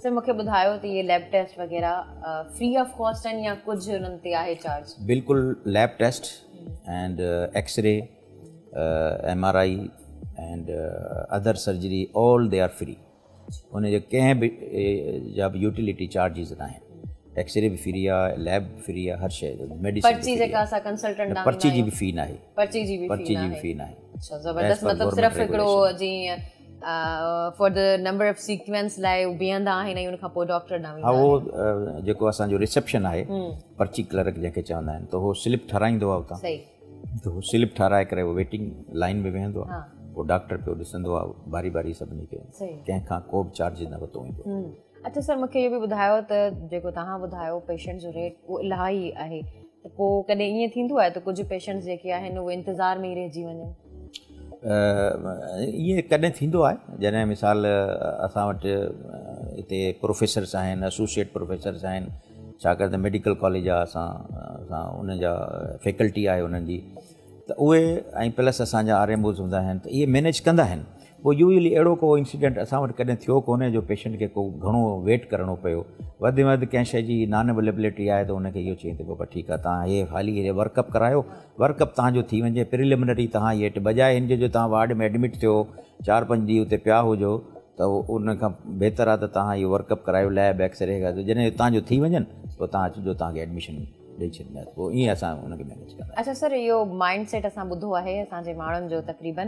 سر مون کي ٻڌايو ته هي ليب ٽيسٽ وغيره فري آف ڪاسٽ آهن يا ڪجهه انهن تي آهي چارج بلڪل lab test and X ray M R I and other surgery all the are free ان جي ڪنهن به جا به يوٽيلٽي چارجز نه آهن ايڪس ري به فري آهي ليب به فري آهي هر شيء جو ميڊيسن پرچي جي به في نه آهي پرچي جي به في نه آهي اچھا زبردست مطلب صرف هڪڙو جيئن for the number of sequence لاء بيهندا آهن ۽ ان کان پوء ڊاڪٽر نه ويندا هو جيڪو اسان جو ريسيپشن آهي پرچي ڪلرڪ جنهن کي چوندا آهن ته هو سلپ ٺارايندو آهي اتان صحيح ته هو سلپ ٺاراي ڪري ويٽنگ لائن ۾ ويهندو آهي پوء ڊاڪٽر پيو ڏسندو آهي باري باري سڀني کي ڪنهن کان ڪو به چارج نه ورتو ويندو اچو سر مونکي اهو به ٻڌايو ته جيڪو تهان ٻڌايو پيشنٽ جو ريٽ اهو الاهي آهي ته پوء ڪڏهن ائين ٿيندو آهي ته ڪجهه پيشنٽس جيڪي آهن اهي انتظار ۾ ئي رهجي وڃن؟ ائين ڪڏهن ٿيندو آهي جڏهن مثال اسان وٽ هتي پروفيسرس آهن اسوسيئيٽ پروفيسرس آهن ڇاڪاڻ ته ميڊيڪل ڪاليج آهي اسان اسان ان جا فيڪلٽي آهي انهن جي ته اهي ۽ پلس اسان جا آر ايم اوز هوندا آهن ته اهي مينيج ڪندا آهن پوء يوزلي اهڙو ڪو انسيڊنٽ اسان وٽ ڪڏهن ٿيو ڪونهي جو پيشنٽ کي ڪو گهڻو ويٽ ڪرڻو پيو وڌ ۾ وڌ ڪنهن شي جي نان اويليبلٽي آهي ته ان کي اهو چئين ته بابا ٺيڪ آهي تان هي هالي هي ورڪ اپ ڪرايو ورڪ اپ تان جو ٿي وڃي پريلمنري تان هي اٽ بجاء هن جو تان وارڊ ۾ ايڊمٽ ٿيو چار پنج ڏينهن اتي پيا هجو ته ان کان بهتر آهي ته تان اهو ورڪ اپ ڪرايو ليب ايڪسري جڏهن تان جو ٿي وڃن پوء تان اچجو تان کي ايڊميشن ڏئي ڇڏيندا آهن پوء ائين اسان ان کي مينيج ڪندا اچا سر اهو مائنڊ سيٽ اسان ٻڌو آهي اسان جي ماڻهن جو تقريبا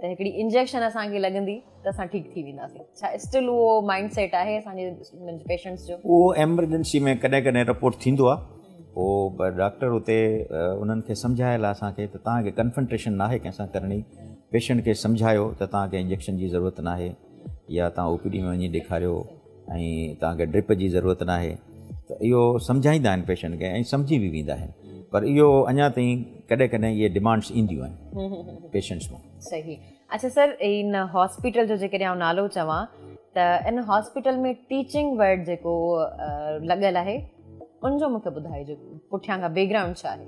ته هڪڙي انجيڪشن اسان کي لڳندي ته اسان ٺيڪ ٿي وينداسين ڇا اسٽل اهو مائنڊ سيٽ آهي اسان جي پيشنٽس جو اهو ايمرجنسي ۾ ڪڏهن ڪڏهن رپورٽ ٿيندو آهي پوء ڊاڪٽر اتي انهن کي سمجهايل آهي اسان کي ته توهان کي ڪنفنٽريشن نه آهي ڪنهن سان ڪرڻي پيشنٽ کي سمجهايو ته توهان کي انجيڪشن جي ضرورت نه آهي يا تان او پي ڊي ۾ وڃي ڏيکاريو ۽ توهان کي ڊرپ جي ضرورت ناهي ته اهو سمجهائيندا آهن پيشنٽ کي ۽ سمجهي به ويندا آهن پر اهو اڃا تائين ڪڏهن ڪڏهن اهي ڊمانڊس اينديون آهن پيشنٽس مان صحيح اچھا سر ان هاسپيٽل جو جيڪڏهن آئون نالو چوان ته ان هاسپيٽل ۾ ٽيچنگ ورڊ جيڪو لڳل آهي ان جو مونکي ٻڌائجو پٺيان کان بيڪ گرائونڊ ڇا آهي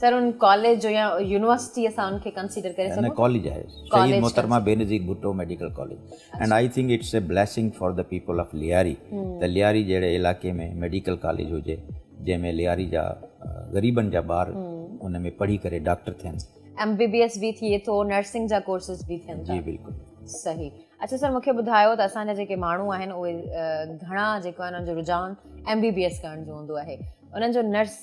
سر ان ڪاليج جو يا يونيورسٽي اسان ان کي ڪنسيڊر ڪري سگهون نه ڪاليج آهي سيد محترمه Benazir Bhutto medical college and I think it's a blessing for the people of Lyari ته لياري جهڙي علائقي ۾ ميڊيڪل ڪاليج هجي جنهن ۾ لياري جا غريبن جا ٻار ان ۾ پڙهي ڪري ڊاڪٽر ٿين ايم بي بي ايس به ٿئي ٿو نرسنگ جا ڪورسز به ٿين جي بلڪل صحيح اچھا سر مونکي ٻڌايو ته اسان جا جيڪي ماڻهو آهن اهي گهڻا جيڪو آهن ان جو رجحان ايم بي بي ايس ڪرڻ جو هوندو آهي انهن جو نرس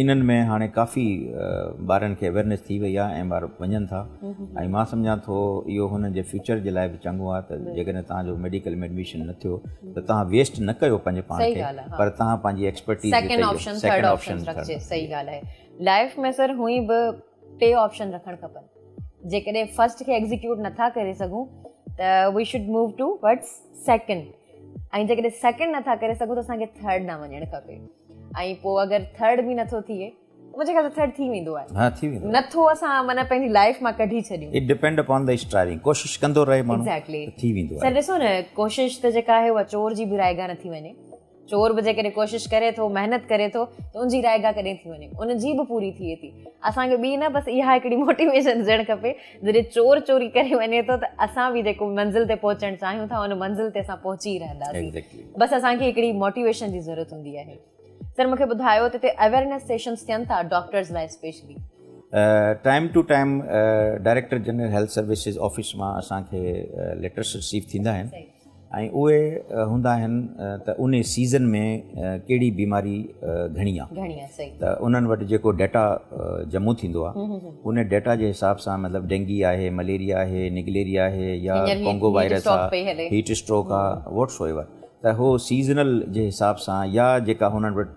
انهن ۾ هاڻي ڪافي ٻارن کي اويرنيس ٿي وئي آهي ۽ ٻار وڃن ٿا ۽ مان سمجهان ٿو اهو هنن جي فيوچر جي لاء به چڱو آهي ته جيڪڏهن توهان جو ميڊيڪل ۾ ايڊميشن نه ٿيو ته توهان ويسٽ نه ڪيو پنهنجي پاڻ کي پر توهان پنهنجي ايڪسپرٽيز سيڪنڊ آپشن رکجي سهي ڳالهه آهي لائف ۾ سر هونئن به ٽي آپشن رکڻ کپن جيڪڏهن فرسٽ کي ايگزيڪيوٽ نٿا ڪري سگهون ته we should move to what's second ۽ جيڪڏهن سيڪنڊ نٿا ڪري سگهون ته اسانکي ٿرڊ ڏانهن وڃڻ کپي ۽ پوء اگر ٿرڊ به نٿو ٿئي منهنجي خيال ٿرڊ ٿي ويندو آهي ها ٿي ويندو نٿو اسان معنی پنهنجي لائف مان ڪڍي ڇڏيون it depend upon the striving ڪوشش ڪندو رهي ماڻهو ايگزيڪٽلي ٿي ويندو آهي سر ڏسو نه ڪوشش ته جيڪا آهي اها چور جي به رائيگان ٿي وڃي چور به جيڪڏهن ڪوشش ڪري ٿو محنت ڪري ٿو ته ان جي رائگا ڪڏهن ٿي وڃي ان جي به پوري ٿئي ٿي اسانکي ٻي نه بس اها هڪڙي موٽيويشن ڏيڻ کپي جڏهن چور چوري ڪري وڃي ٿو ته اسان به جيڪو منزل تي پهچڻ چاهيون ٿا ان منزل تي اسان پهچي رهنداسين بس اسانکي هڪڙي موٽيويشن جي ضرورت هوندي آهي سر مونکي ٻڌايو ته هتي اويرنس سيشنس ٿين ٿا ڊاڪٽرز لاء specially time to time director general health services office مان اسانکي ليٽرس رسيو ٿيندا آهن ۽ اهي هوندا آهن ته انهي سيزن ۾ ڪهڙي بيماري گهڻي آ ته انهن وٽ جيڪو ڊيٽا جمع ٿيندو آ انهي ڊيٽا جي حساب سان مطلب ڊينگي آهي مليريا آهي نگليريا آهي يا ڪونگو وائرس آ هيٽ اسٽروڪ آ وٽس ايور ته هو سيزنل جي حساب سان يا جيڪا هنن وٽ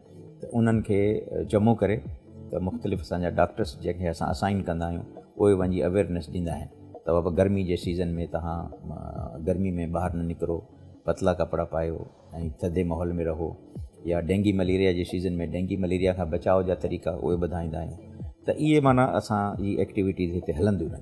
ته انهن کي جمع ڪري ته مختلف اسان جا ڊاڪٽرس جنهن کي اسان اسائن ڪندا آهيون اهي وڃي اويرنس ڏيندا آهن ته بابا گرمي جي سيزن ۾ توهان گرمي ۾ ٻاهر نه نڪرو پتلا ڪپڙا پايو ۽ ٿڌي ماحول ۾ رهو يا ڊينگي مليريا جي سيزن ۾ ڊينگي مليريا کان بچاء جا طريقا اهي ٻڌائيندا آهيون ته اهي معنيٰ اسان جي ايڪٽيوٽيز هتي هلنديون رهنديون